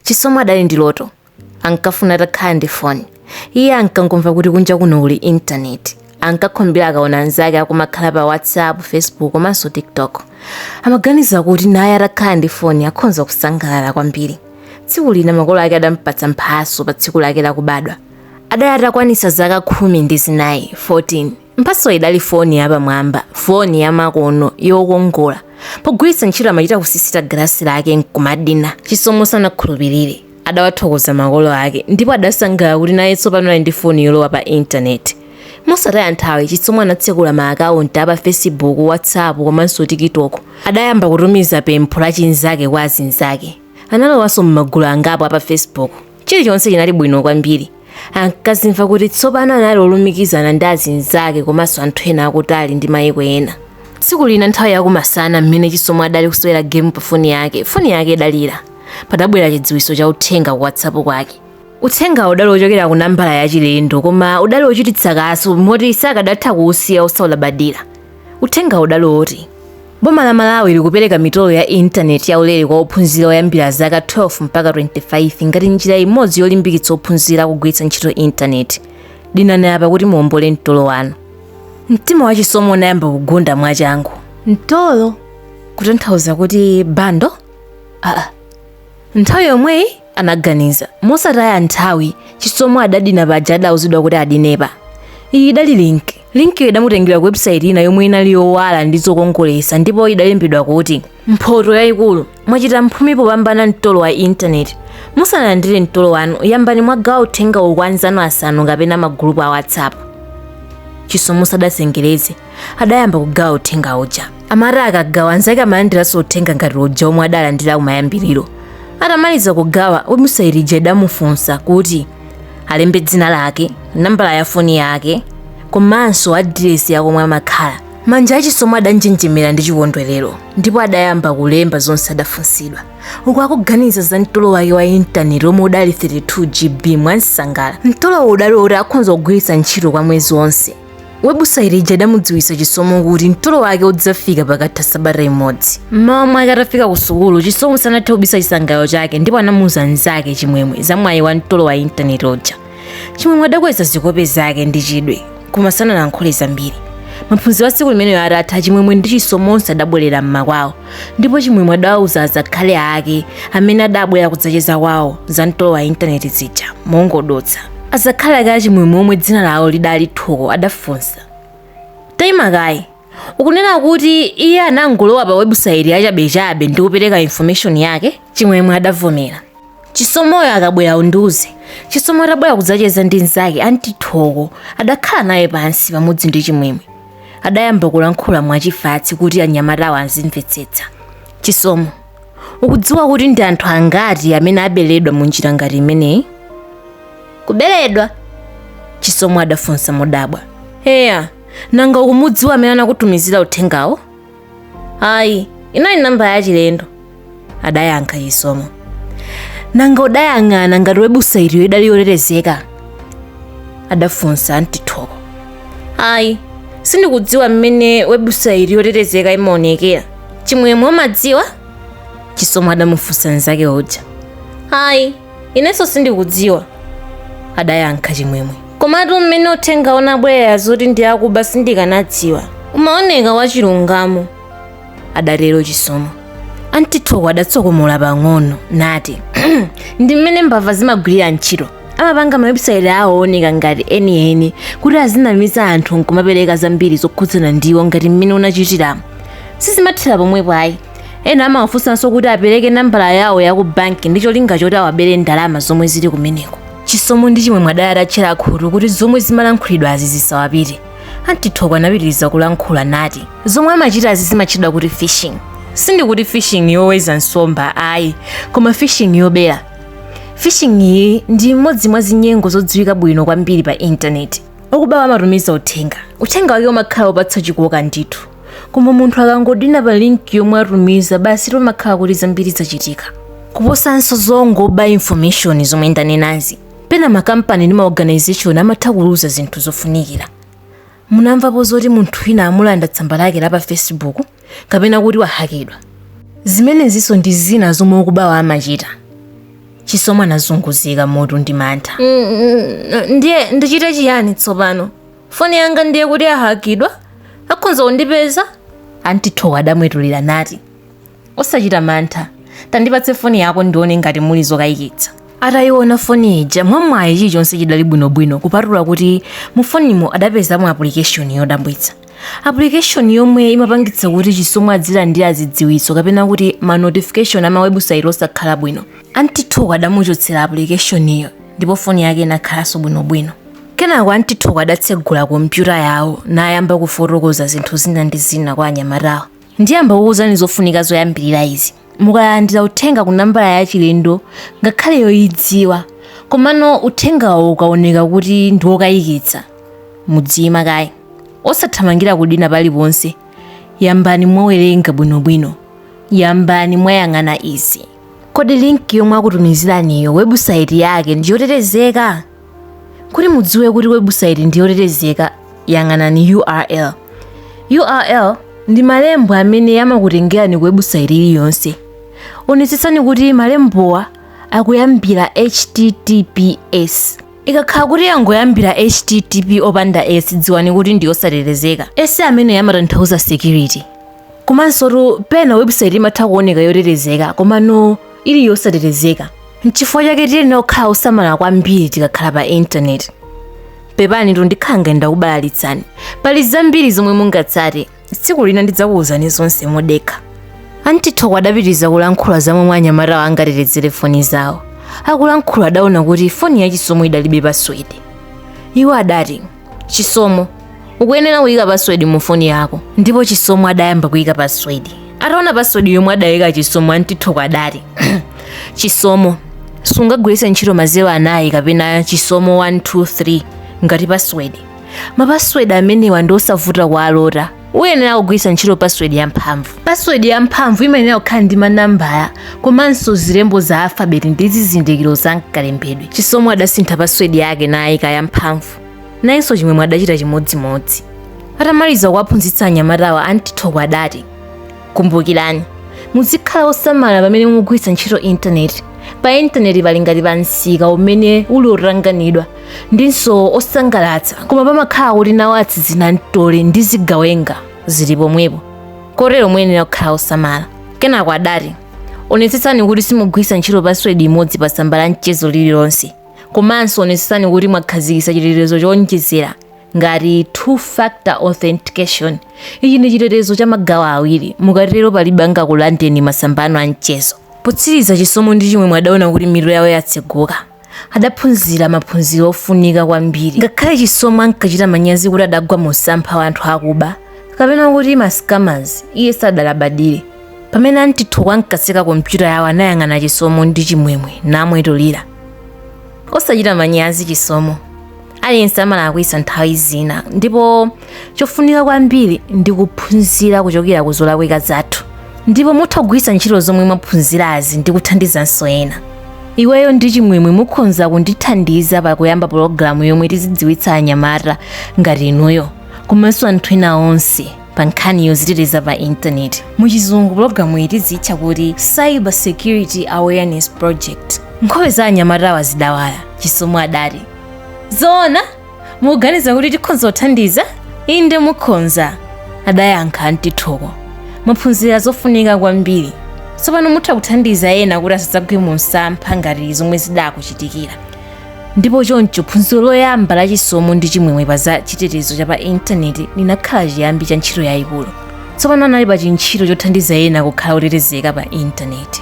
chisomo adali ndi loto ankafuna atakhala ndi foni iye ankangomva kuti kunja kuno kuli intaneti ankakhumbira akaona anzake akumakhala pa whatsapp facebook komanso tiktok amaganiza kuti naye atakhala ndi foni akhonza kusangalala kwambiri tsiku lina makolo ake adampatsa mphatso pa tsiku lake lakubadwa adali atakwanitsa zaka khumi ndi zinayi 14 mphatso idali foni yapamwamba foni yamakono yokongola pogwiritsa ntchito amachita kusisita galasi lake nkumadina chisomo sanakhulupirire adawathokoza makolo ake ndipo adasangalala kuti naye tsopano ali ndi foni yolowa pa intaneti mosataya nthawi chisomo anatsekula ma akaunti a pa facebook whatsapp komanso tiktok adayamba kutumiza pempho la chinzake kwa azinzake analowanso m'magulu angapo a pa facebook chilichonse chinali bwino kwambiri ankazimva kuti tsopano anali olumikizana ndi azinzake komanso anthu ena akutali ndi mayiko ena tsiku lina nthawi yakumasana mmene chisomo adali kusewera gemu pa foni yake foni yake idalira padabwera chidziwitso cha uthenga ku whatsapp kwake uthengawo udali wochokera ku nambala yachilendo koma udali wochititsa kaso moti sakadatha kuusiya osaulabadira uthengawo udali woti Boma la Malawi likupereka mitolo ya intaneti yaulere kwa ophunzira oyambira zaka 12 mpaka 25 ngati njira imodzi yolimbikitsa ophunzira kugwiritsa ntchito intaneti. Dinani apa kuti muombole mtolo wanu. Mtima wa chisomo unayamba kugunda mwachangu. Mtolo kutanthauza kuti bando? Nthawi yomweyi anaganiza. Mosataya nthawi, Chisomo adadina paja adauzidwa kuti adinepa. Iyi idali link. Linkiyo idamutengera ku webusaiti ina yomwe inali yowala ndi zokongoletsa ndipo idalembedwa kuti mphoto yayikulu mwachita mphumi popambana mtolo wa intaneti. Musanalandire mtolo wanu, yambani mwagawa uthengawu kwa anzanu asanu kapena magulupu a WhatsApp. Chisomo sadazengereze. adayamba kugawa uthenga uja amati akagawa anzake amalandiranso uthenga ngati uja omwe adalandira kumayambiriro atamaliza kugawa webusaiti ija idamufunsa kuti alembe dzina lake nambala ya foni yake komanso adiresi ya komwe amakhala manja a chisomo adanjenjemera ndi chikondwerero ndipo adayamba kulemba zonse adafunsidwa uku akuganiza za mtolo wake wa intaneti omwe udali 32 gb mwamsangala mtolowo udali woti akhonza kugwiritsa ntchito kwa mwezi wonse webusaiti ija idamudziwitsa chisomo kuti mtolo wake udzafika pakatha sabata imodzi mmawa mwake atafika ku sukulu chisomo sanathe kubisa chisangalalo chake ndipo anamuuza mnzake chimwemwe za mwayi wa mtolo wa intaneti uja chimwemwe adakweza zikope zake ndi chidwi koma sanalankhule zambiri maphunziro a tsiku limeneyo atatha chimwemwe ndi chisomo onse adabwerera mmakwawo ndipo chimwemwe adawauza azakhali ake amene adabwera kudzacheza kwawo za mtolo wa intaneti zija mongodutsa azakhali ake achimwemwe omwe dzina lawo lidali thoko adafunsa taima kaye ukunena kuti iye anangolowa pa webusaiti yachabechabe ndi kupereka information yake chimwemwe adavomera chisomoyo akabwera undiuze chisomo atabwera kudzacheza ndi mnzake anti Thoko adakhala naye pansi pamodzi ndi chimwemwe adayamba kulankhula mwachifatsi kuti anyamatawo azimvetsetsa chisomo ukudziwa kuti ndi anthu angati amene aberedwa mu njira ngati imeneyi kuberedwa chisomo adafunsa modabwa eya nanga ukumudziwa amene anakutumizira uthengawo ayi inali nambala yachilendo adayankha chisomo nanga udayang'ana ngati webusaitiyo idali yotetezeka adafunsa anti Thoko ayi sindikudziwa mmene webusaiti yotetezeka imaonekera chimwemwe umadziwa chisomo adamufunsa mnzake uja ayi Inenso sindikudziwa, adayankha Chimwemwe. Komatu mmene uthenga unabwerera zoti ndi akuba sindikanadziwa. Umaoneka wachilungamo, adatero Chisomo. Anti Thoko adatsokomola pang'ono nati, ndi mmene mbava zimagwirira ntchito. Amapanga mawebusaiti awo ooneka ngati enieni kuti azinamiza anthu nkumapereka zambiri zokhudzana ndi iwo ngati mmene unachitiramo. Sizimathera pomwepo ayi. ena amawafunsanso kuti apereke nambala yawo ya ku banki ndi cholinga choti awabere ndalama zomwe zili kumeneko chisomo ndi chimwemwe adali atatchera khutu kuti zomwe zimalankhulidwazi zisawapite anti Thoko anapitiriza kulankhula nati zomwe amachitazi zimatchedwa kuti phishing sindikuti fishing yoweza nsomba ayi koma phishing yobera phishing iyi ndi imodzi mwa zinyengo zodziwika bwino kwambiri pa intaneti okubawa amatumiza uthenga uthenga wake umakhala wopatsa chikoka ndithu koma munthu akangodina pa link yomwe atumiza basi pamakhala kuti zambiri zachitika kuposanso zongoba information zomwe ndanenazi pena makampani ndi maorganization amatha kuluza zinthu zofunikira munamvapo zoti munthu wina amulanda tsamba lake la pa facebook kapena kuti wahakidwa zimenezinso ndi zina zomwe okubawa amachita chisomo anazunguzika mutu ndi mantha ndiye ndichite chiyani tsopano foni yanga ndiye kuti yahakidwa akhonza kundipeza anti Thoko adamwetulira nati osachita mantha tandipatse foni yako ndione ngati muli zokayikitsa atayiona foni ija mwamwayi chilichonse chidali bwinobwino kupatula kuti mu fonimo adapezamo application yodabwitsa application yomwe imapangitsa kuti chisomo adzilandira zidziwitso kapena kuti ma notification ama website osakhala bwino anti Thoko adamuchotsera applicationiyo ndipo foni yake inakhalanso bwinobwino kenako anti Thoko adatsegula kompyuta yawo nayamba kufotokoza zinthu zina ndi zina kwa anyamatawo ndiyamba kukuuzani zofunika zoyambirira izi mukalandira uthenga ku nambala ya chilendo ngakhale yoyidziwa komano uthengawo ukaoneka kuti ndi wokayikitsa mudziyima kaye osathamangira kudina paliponse yambani mwawerenga bwinobwino yambani mwayang'ana izi kodi linki yomwe akutumiziraniyo webusaiti yake ndi yotetezeka kuti mudziwe kuti webusaiti ndi yotetezeka yang'anani url url ndi malembo amene amakutengerani ku webusaiti iliyonse onetsetsani kuti malembowa akuyambira https ikakhala kuti yangoyambira http opanda s dziwani kuti ndi yosatetezeka s ameneyu amatanthauza security komansotu pena webusaiti imatha kuoneka yotetezeka komano ili yosatetezeka nchifukwa chake tiyenera kukhala osamala kwambiri tikakhala pa intaneti pepanitu ndikhala ngati ndakubalalitsani pali zambiri zomwe mungatsate tsiku lina ndidzakuwuzani zonse modekha anti Thoko adapitiriza kulankhula za momwe anyamatawo angatetezere foni zawo akulankhula adaona kuti foni ya Chisomo idalibe paswede iwo adati chisomo ukuyenera kuyika password mu foni yako ndipo chisomo adayamba kuyika password ataona password yomwe adayika chisomo anti Thoko adati chisomo sungagwiritse ntchito mazero anayi kapena chisomo 123 ngati password mapaswedi amenewa ndi osavuta kuwalota uyenera kugwiritsa ntchito password ya mphamvu password ya mphamvu imayenera kukhala ndi manambala komanso zilembo za alfabeti ndi zizindikiro za mkalembedwe chisomo adasintha password yake nayika ya mphamvu nayenso chimwemwe adachita chimodzimodzi atamaliza kuwaphunzitsa anyamatawa anti Thoko adati kumbukirani muzikhala osamala pamene mugwiritsa ntchito intaneti pa intaneti pali ngati pa msika umene uli otanganidwa ndinso osangalatsa koma pamakhala kuti nawo atsizinamtole ndi zigawenga zili pomwepo kotero muyenera kukhala osamala kenako adati onetsetsani kuti simugwiritsa ntchito password imodzi pa tsamba la mchezo lililonse komanso onetsetsani kuti mwakhazikitsa chitetezo chowonjezera ngati two factor authentication ichi ndi chitetezo cha magawo awiri mukatero palibe angakulandeni masamba anu a mchezo potsiriza chisomo ndi chimwemwe adaona kuti mitu yawo yatseguka adaphunzira maphunziro ofunika kwambiri ngakhale chisomo ankachita manyazi kuti adagwa mu msampha wa anthu akuba kapena kuti mascammers iye sadalabadire pamene anti Thoko ankatseka kompyuta yawo anayang'ana chisomo ndi chimwemwe namwetulira osachita manyazi chisomo aliyense amalakwitsa nthawi zina ndipo chofunika kwambiri ndi kuphunzira kuchokera ku zolakwika zathu ndipo mutha kugwiritsa ntchito zomwe mwaphunzirazi ndi kuthandizanso ena iweyo ndi chimwemwe mukhonza kundithandiza pa kuyamba pologalamu yomwe tizidziwitsa anyamata ngati inuyo komanso anthu ena onse pa nkhani yoziteteza pa intaneti mu chizungu pologalamu iyi tizitcha kuti cyber security awareness project nkhope za anyamatawa zidawala chisomo adati zoona mukuganiza kuti tikhonza kuthandiza inde mukhonza adayankha anti thoko mwaphunzira zofunika kwambiri tsopano mutha kuthandiza ena kuti asadzagwe mu msampha ngati zomwe zidakuchitikira ndipo choncho phunziro loyamba la chisomo ndi chimwemwe pa za chitetezo cha pa intaneti linakhala chiyambi cha ntchito yayikulu tsopano anali pa chintchito chothandiza ena kukhala otetezeka pa intaneti